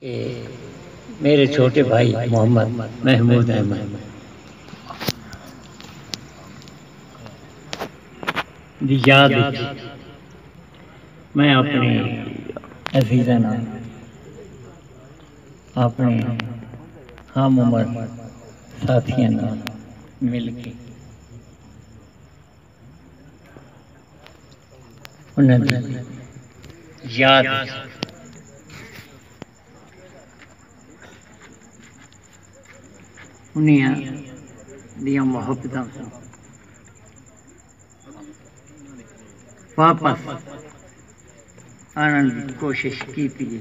اے میݙے چھوٹے بھائی محمد محمود احمد دی یاد اچ میں اپݨے عزیزاں نال اپݨے ہم عمر ساتھیاں نال مل کے انہاں دی یاد اچ انہاں دیاں محبتاں کوں واپس آنڑݨ دی کوشش کیتی اے۔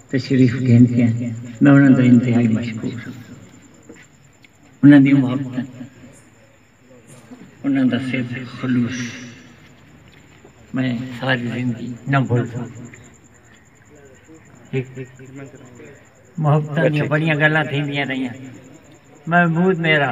تشریف گھن پئن میں انہاں دا انتہائی مشکور ہاں انہاں دیاں محبتاں انہاں دا سر خلوص میں ساری زندگی نہ بھول سکوں محبتاں دیاں بڑیاں گلاں تھیندیاں رہیاں محمود میرا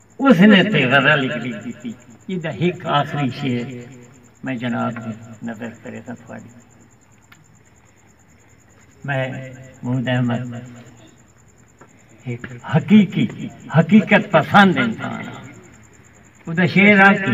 اس نے تے غزل ہک لکھ ڈتی۔ ایدا ہک آخری شعر میں جناب دی نظر کریساں تھوڑی۔ میں محمود احمد ہک حقیقی حقیقت پسند انسان ہاں۔ اودا شعر آ کہ۔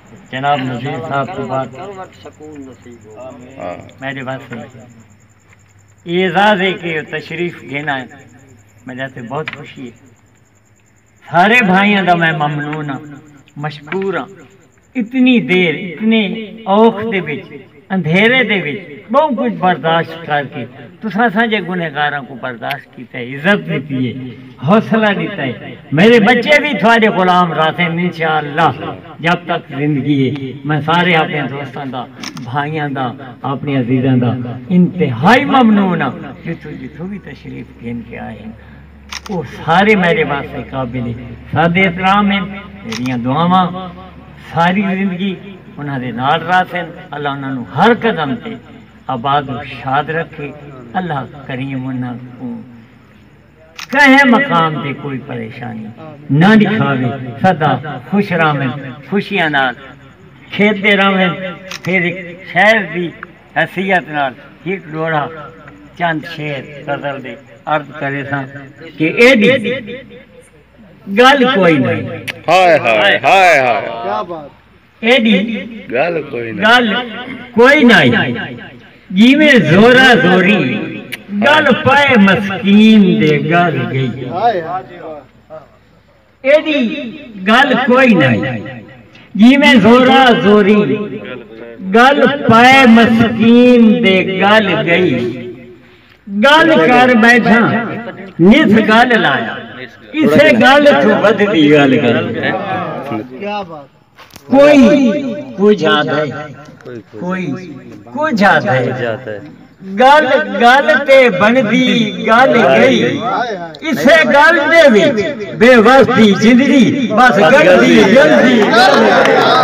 جناب نذیر صاحب توں بعد میڈے واسطے اعزاز ہے کہ تشریف گھن آئے میڈے واسطے بہت خوشی ہے سارے بھائیاں دا میں ممنون ہاں مشکور ہاں اتنی دیر اتنے اوکھ دے وچ اندھیرے دے وچ ٻہوں کجھ برداشت کر کے تساں اساںجے گنہگاراں کوں برداشت کیتا ہے، عزت ݙتی ہے، حوصلہ ݙتا ہے۔ میݙے ٻچے وی تہاݙے غلام رہسن انشاء اللہ جب تک زندگی ہے۔ میں سارے آپݨیاں دوستاں دا، بھائیاں دا، آپݨے عزیزاں دا انتہائی ممنون ہاں جتھوں جتھوں وی تشریف گھن کے آئے ہن۔ او سارے میڈے واسطے قابل سد احترام ہن، میڈیاں دعاواں ساری زندگی انہاں دے نال رہسن، اللہ انہاں نوں ہر قدم تے آباد و شاد رکھے، اللہ کریم انہاں کوں کہیں مقام تے کوئی پریشانی نہ ڈکھاوے، سدا خوش رہون، خوشیاں نال کھیڈدے رہون، پھر ہک شہر دی۔ حیثیت نال ہک ڈوہڑا چند شعر غزل دے عرض کریساں کہ ایڈی گل کوئی نئیں۔ ہائے ہائے ہائے ہائے۔ ایڈی گل کوئی نئیں۔ جیویں زورا زوری گل پئے مسکین دے گل گئی۔ ایڈی گل کوئی نائی جیویں زورا زوری گل پائے مسکین دے گل گئی گل کر بیٹھاں نس گل لایا کسے گل توں ودھدی گل گئی۔ کوئی کجھ آہدے کوئی کجھ آہدے گل گل تے بنڑدی گل گئی اسے گل دے وچ بے وس دی زندگی بس گلدی گلدی گلدی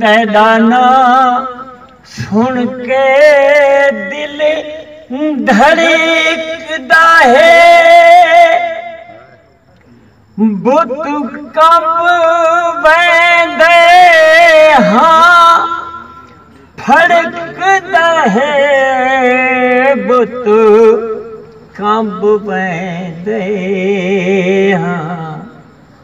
تیݙا ناں سݨ کے دل دھڑکدا ہے بت کمب ویندے ہاں پھڑکدا ہے بت کمب ویندے ہاں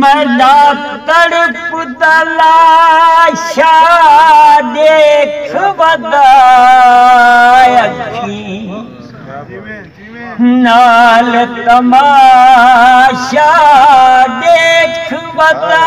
میݙا تڑپ دا لاشا ݙیکھ ودا اکھیں نال تماشا ݙیکھ ودا۔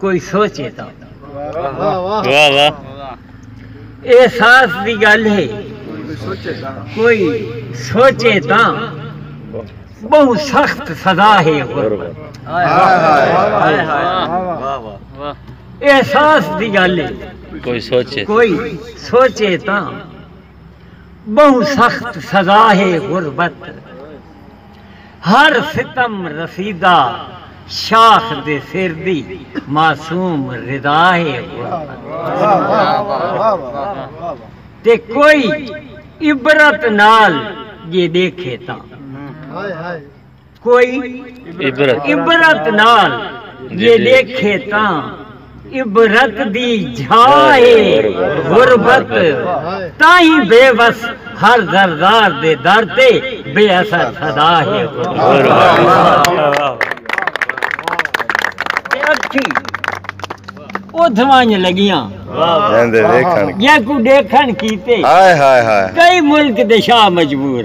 کوئی سوچے تاں احساس دی گل ہے کوئی سوچے تاں بہو سخت سزا ہے احساس دی گل ہے کوئی سوچے کوئی سوچے تاں بہو سخت سزا ہے غربت ہر ستم رسیدہ شاخ دے سر دی معصوم ردا ہے غربت تے کوئی عبرت نال جے ڈیکھے تاں کوئی عبرت نال جے ڈیکھے تاں عبرت دی جھا اے غربت تائیں بے وس ہر زردار دے در تے بے اثر صدا ہے غربت۔ تے اکھیں اتھ ونج لگیاں جیکوں ڈیکھن کیتے کئی ملک دے شاہ مجبور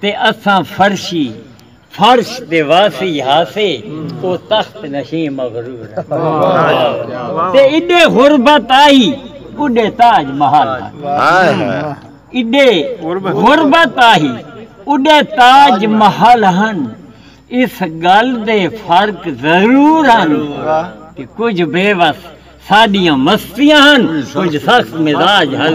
تے اساں فرشی، فرش، دے واسی ہاسے او تخت نشیں مغرور ہن تے ایݙے غربت آہی اݙے تاج محل ہن ایݙے غربت آہی اݙے تاج محل ہن اس ڳل دے فرق ضرور ہن کہ کجھ بے وس ساڈیاں مستیاں ہن کجھ سخت مزاج ہن۔